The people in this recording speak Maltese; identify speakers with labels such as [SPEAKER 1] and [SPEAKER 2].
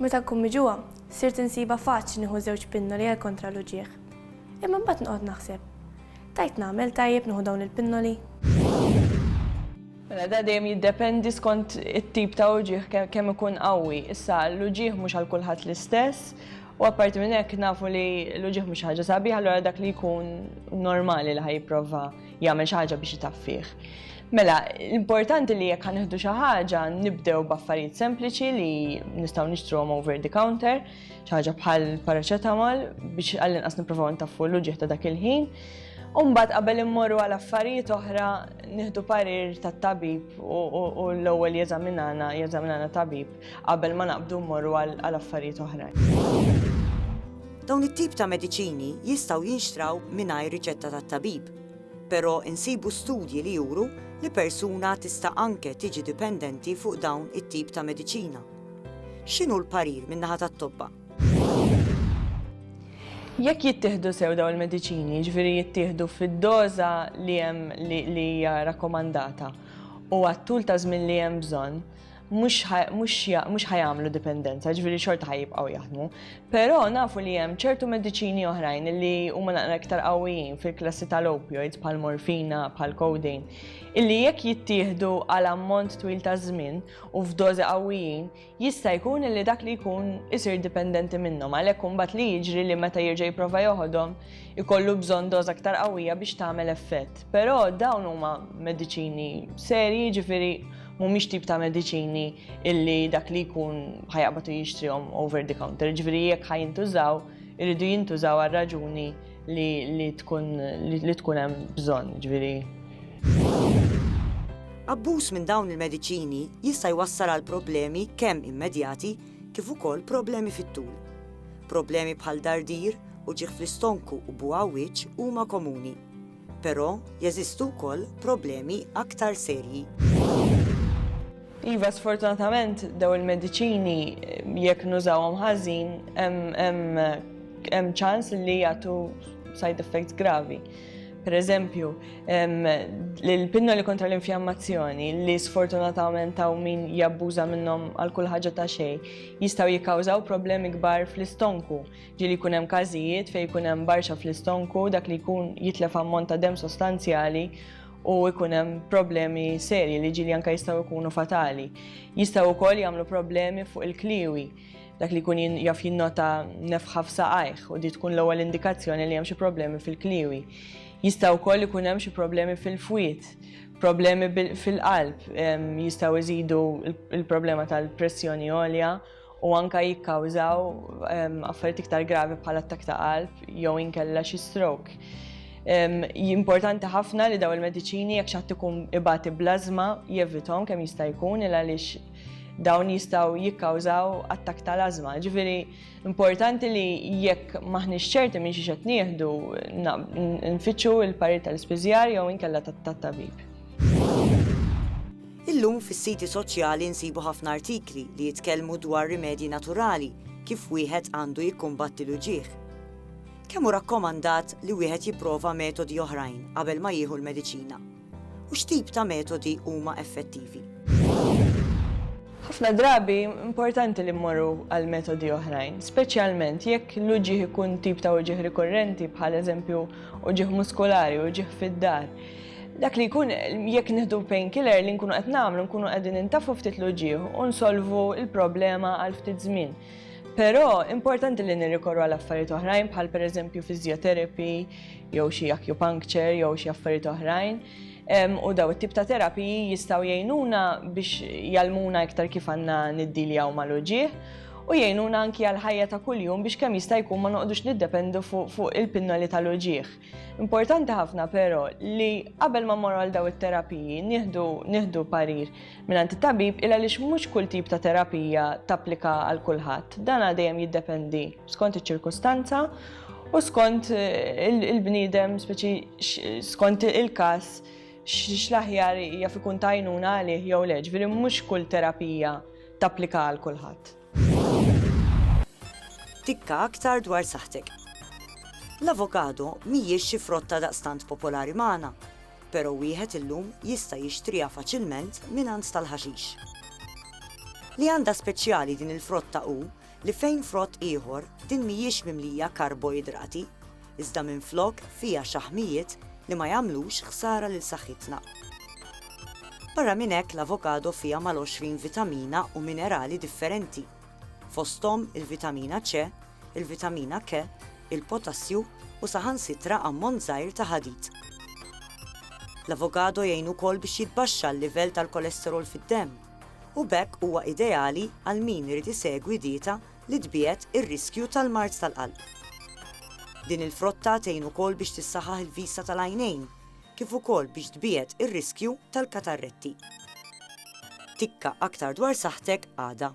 [SPEAKER 1] Meta nkun miġugħa, sirt insibha faċli nieħu żewġ pinnoli għal kontra l-uġigħ. Imma mbagħad noqgħod naħseb, Tajt nagħmel tajjeb nieħu dawn il-pinnoli?
[SPEAKER 2] Mela da dejjem jiddependi skont it-tip ta' uġigħ kemm ikun qawwi. Issa l-uġigħ mhux għal kulħadd l-istess u apparti minn hekk nafu li l-uġigħ mhux ħaġa sabiħa allura dak li jkun normali li ħa jipprova jagħmel xi ħaġa biex itaffih. Mela, l-importanti li jekk ħanieħdu xi ħaġa nibdew b'affarijiet sempliċi li nistgħu nixtruhom over the counter, xi ħaġa bħal paracetamol biex għall-inqas nippruvaw ntaffu l-uġieħ ta' dak il-ħin. Umbat qabel immorru għal affarijiet oħra nieħdu parir tat-tabib u l-ewwel jeżaminana, jeżaminana tabib qabel ma naqbdu mmorru għal affarijiet oħra. Dawn
[SPEAKER 3] it-tip ta' mediċini jistgħu jinxtraw mingħajr riċetta tat-tabib, però insibu studji li juru li persuna tista' anke tiġi dipendenti fuq dawn it-tip ta' mediċina. X'inhu l-parir min-naħa tat-tobba?
[SPEAKER 2] Jekk jittieħdu sew dawn il-mediċini, jiġifieri jittieħdu fid-doża li hemm li hija rakkomandata u għat-tul ta' żmien li hemm bżonn, mhux ħajamlu dipendenza, ġviri xorta ħajibqaw jaħdmu. Però nafu li hemm ċertu mediċini oħrajn li huma naqra iktar qawwijin fil-klassi tal-opioids bħal morfina, bħal codeine, illi jekk jittieħdu għal ammont twil ta' żmien u f'dożi qawwijin, jista' jkun li dak li jkun isir dipendenti minnhom għalhekk imbagħad li jiġri li meta jirġa' jipprova joħodhom ikollu bżonn doża aktar qawwija biex tagħmel effett. Però dawn huma mediċini serji ġifieri mhumiex tip ta' mediċini illi dak li jkun ħajaqbatu jixtrihom over the counter, ġifieri jekk ħajintużaw, irridu jintużaw għal raġuni li tkun li tkun hemm bżonn, ġifieri.
[SPEAKER 3] Abbuż minn dawn il-mediċini jista' jwassal għal problemi kemm immedjati kif ukoll problemi fit-tul. Problemi bħal dardir u ġieħ fl-istonku u buħawiċ huma komuni. Però jeżistu wkoll problemi aktar serji. Iva,
[SPEAKER 2] sfortunatament dawn il-mediċini jekk nużawhom ħażin hemm ċans li jagħtu side effects gravi. Per eżempju, l-pinnoli kontra l-infjammazzjoni li sfortunatament hawn min jabbuża minnhom għal kull ħaġa ta' xejn jistgħu jikkawżaw problemi kbar fl-istonku Ġieli jkun hemm każijiet fejn jkun hemm barċa fl-istonku, dak li jkun jitlef ammont ta' demm sostanzjali u jkun hemm problemi serji li ġieli anke jistgħu jkunu fatali. Jistgħu wkoll jagħmlu problemi fuq il-kliewi, dak li jkun jaf jinnota nefħa f'saqajh u di tkun l-ewwel indikazzjoni li hemm xi problemi fil-kliewi. Jista' wkoll ikun hemm xi problemi fil-fwied, problemi fil-qalb, jistgħu jżidu l-problema tal-pressjoni għolja, u anke jikkawżaw affarijiet iktar gravi bħal attakk ta' qalb jew inkella xi stroke. Importanti ħafna li daw il-mediċini jekk xatt ikun ibati blażma jevithom kemm jista' jkun il għaliex dawn jistgħu jikkawżaw attakk ta' lażma. Ġifieri importanti li jekk maħniex ċerti minn xi qed nieħdu nfittxu l-parir tal-ispiżjar jew inkella tat-tabib.
[SPEAKER 3] Illum fis-siti soċjali nsibu ħafna artikli li jitkellmu dwar rimedji naturali kif wieħed għandu jikkumbatti l-uġigħ. Kemm hu rakkomandat li wieħed jipprova metodi oħrajn qabel ma jieħu l-mediċina? U x'tip ta' metodi huma effettivi?
[SPEAKER 2] Ħafna drabi importanti li mmorru għal metodi oħrajn, speċjalment jekk l-uġieħ ikun tip ta' uġieħ rikorrenti bħal eżempju uġieħ muskolari, uġieħ fid-dar. Dak li jkun jekk nieħdu painkiller li nkunu qed nagħmlu nkunu qegħdin intafu ftit l-uġieħ u nsolvu l-problema għal ftit żmien. Però importanti li nirrikorru għal affarijiet oħrajn bħal pereżempju physiotherapy jew xi acupuncture jew xi affarijiet oħrajn u daw it-tip ta' terapiji jistgħu jgħinuna biex jalmuna iktar kif għandna niddiljaw mal-uġieħ u jgħinuna anki għal ħajja ta' kuljum biex kemm jista' jkun ma noqgħodux niddependu fuq il-pinnoli tal-uġieħ. Importanti ħafna però li qabel ma mmorru għal daw it-terapiji nieħdu nieħdu parir mingħand it-tabib il għaliex mhux kull tip ta' terapija tapplika għal kulħadd. Dan dejjem jiddependi skont iċ-ċirkustanza u skont eh, il-bniedem speċi skont il-każ x'laħjar jaf ikun tajnuna għalih jew leġ, mhux kull terapija tapplika għal kulħadd.
[SPEAKER 3] Tikka aktar dwar saħħtek. L-avokado mhijiex xi frotta daqstant popolari magħna, però wieħed illum jista' jixtriha faċilment mingħand tal-ħaxix. Li għandha speċjali din il-frotta hu li fejn frott ieħor din mhijiex mimlija karboidrati, iżda minflok fiha xaħmijiet li ma jagħmlux ħsara lil saħħitna. Barra minn hekk l-avokado fiha mal-20 vitamina u minerali differenti, fosthom il-vitamina C, il-vitamina K, il-potassju u saħansitra ammont żgħir ta' ħadid. L-avokado jgħin ukoll biex jitbaxxa l-livell tal-kolesterol fid-demm u b'hekk huwa ideali għal min irid isegwi dieta li tbiegħed ir-riskju tal-mard tal-qalb. Din il-frotta tgħin ukoll biex tissaħħaħ il-vista tal-għajnejn kif ukoll biex tbiegħed ir-riskju tal-katarretti. Tikka aktar dwar saħħtek għada.